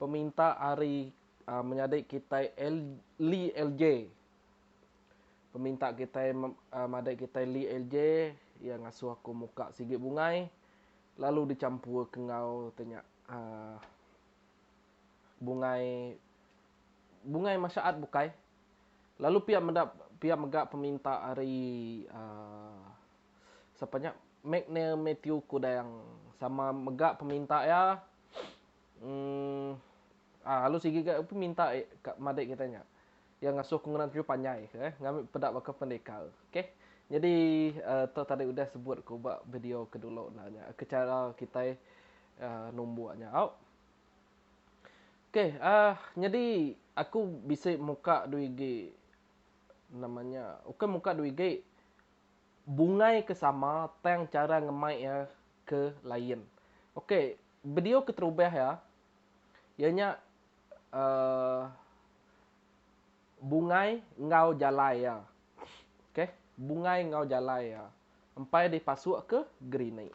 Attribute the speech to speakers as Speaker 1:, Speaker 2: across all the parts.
Speaker 1: peminta ari menyadi kitai Li L J. Peminta kitai madai kitai Li L J iya ngasuh aku muka sigi bungai lalu dichampurka enggau tu nya aaa bungai bungai masyaat bukai lalu pia meda pia mega peminta ari aaa sapa nya Magne Mathew Kudang sama mega peminta iya um um lalu sigi ga peminta ka madik kitai nya iya ngasuh ke ngena teriju panjai ke ngambi peda baka pendekar okay nyadi um tu tadi udah sebut ku ba video ke dulu enda nya ke chara kitai um numbuk nyau. Okay um nyadi aku bisi muka dua igi nama nya ukai muka dua igi. bungai ke sama tang chara ngemai iya ke lain. Ok, video keterubah iya, iya nya uhh bungai enggau jalai iya. Ok, bungai enggau jalai iya empai dipasukka gerinik.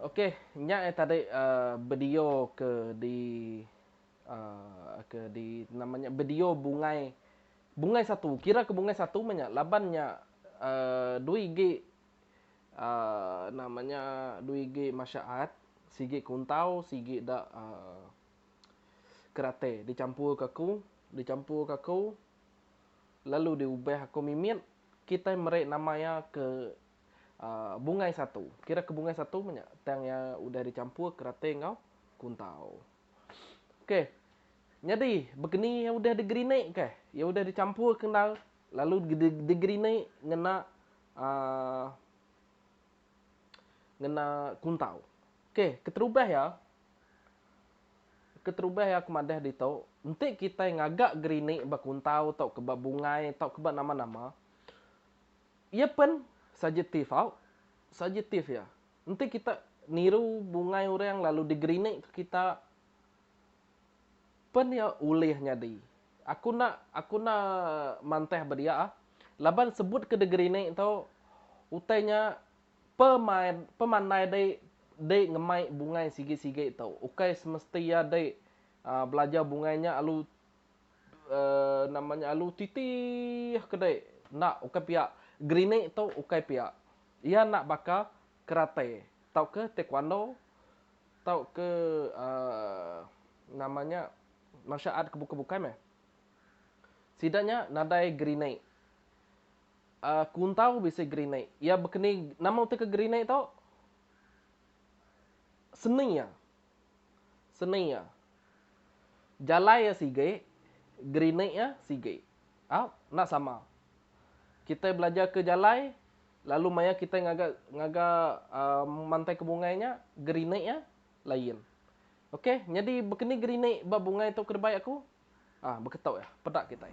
Speaker 1: Okey nya eh tadi video ke di. ke di nama nya bedio bungai bungai satu kira ke bungai satu meh nya laban nya dui igi nama nya dui igi masha art sigi kuntau sigi da kerate dicampur ka ku dicampur ka ku lalu diubah aku mimit kitai meri nama iya ke bungai satu kira ke bungai satu meh nya tang iya udah dicampur kerate enggau kuntau. Okey. Nyadi, begeni iya udah digerinikka. Iya udah dichampurka endar lalu digerinik ngena um ngena kuntau. Okey, keterubah iya, keterubah iya aku madah ditu, enti kitai ngaga gerinik ba kuntau tauka ba bungai tauka ba nama-nama, iya pen sajetif au, sajetif iya. Enti kita niru bungai orang lalu digerinikka kita, pen iya ulih nyadi. Aku enda aku enda mantah ba dia laban sebut ke digerinik tu utai nya pemain pemandai dei dei ngemai bungai sigi-sigi tu. Ukai semesti iya dei aaa belajar bungai nya lalu aaa nama nya lalu titih ke dei. Enda ukai pia. Gerinik tu ukai pia. Iya enda baka karate tauka taekwondo tauka nama nya martial art ke bukai-bukai meh. Sida nya nadai grenade. Kuntau bisi grenade. Iya bekeni nama utai ke grenade tu seni iya Seni iya. Jalai iya sigi, gerinik iya sigi. Au, enda sama. Kitai belajar ke jalai lalu maya kitai ngaga ngaga um mantai ke bungai nya, gerinik iya lain. Okey, nyadi bekeni gerinik ba bungai tu ke debei aku? Ah beketok iya. Peda kitai.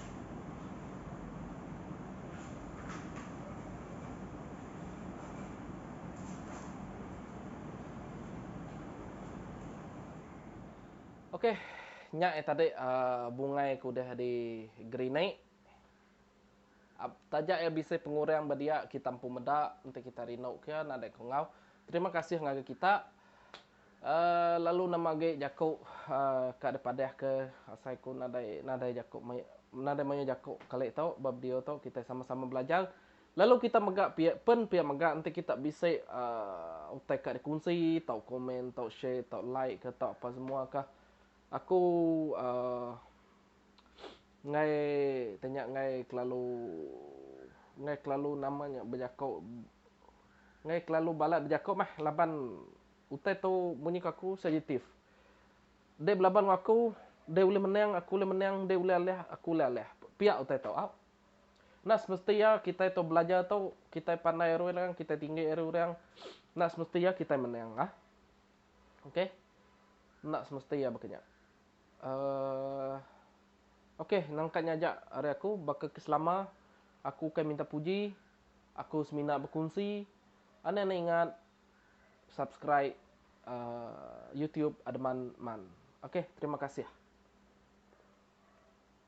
Speaker 1: Ok nya ia tadi bungai ke udah di gerinik taja ia bisi pengurang ba dia kita empu meda enti kita rindu ke nadai ke enggau terima kasih ngagai kita. Lalu nama agi jaku ka dipadahka asai ku nadai nadai jaku nadai mayuh jaku kali tu ba video tu kitai sama-sama belajar lalu kita mega pia pen pia mega enti kita bisi utai ka dikunsi tau komen tau share tau like ka tau apasemua ka aku. enggai tanya enggai kelalu enggai kelalu nama nya bejako enggai kelalu balat bejako meh laban utai tu munyi ku aku sensitif. Dei belaban ngan aku dei ulih menang aku ulih menang dei ulih alih aku ulih alih pia utai tu au. Enda semesti iya kitai tu belajar tu kitai pandai ari orang kitai tinggi ari orang enda semesti iya kitai menang ah. Ok enda semesti iya baka nya. Aaa. Okey, nangka nya aja ari aku. Baka ke selama, aku ukai minta puji, aku semina bekunsi. Anang ne ingat subscribe aaa YouTube Ademan Man. Okey, terima kasih.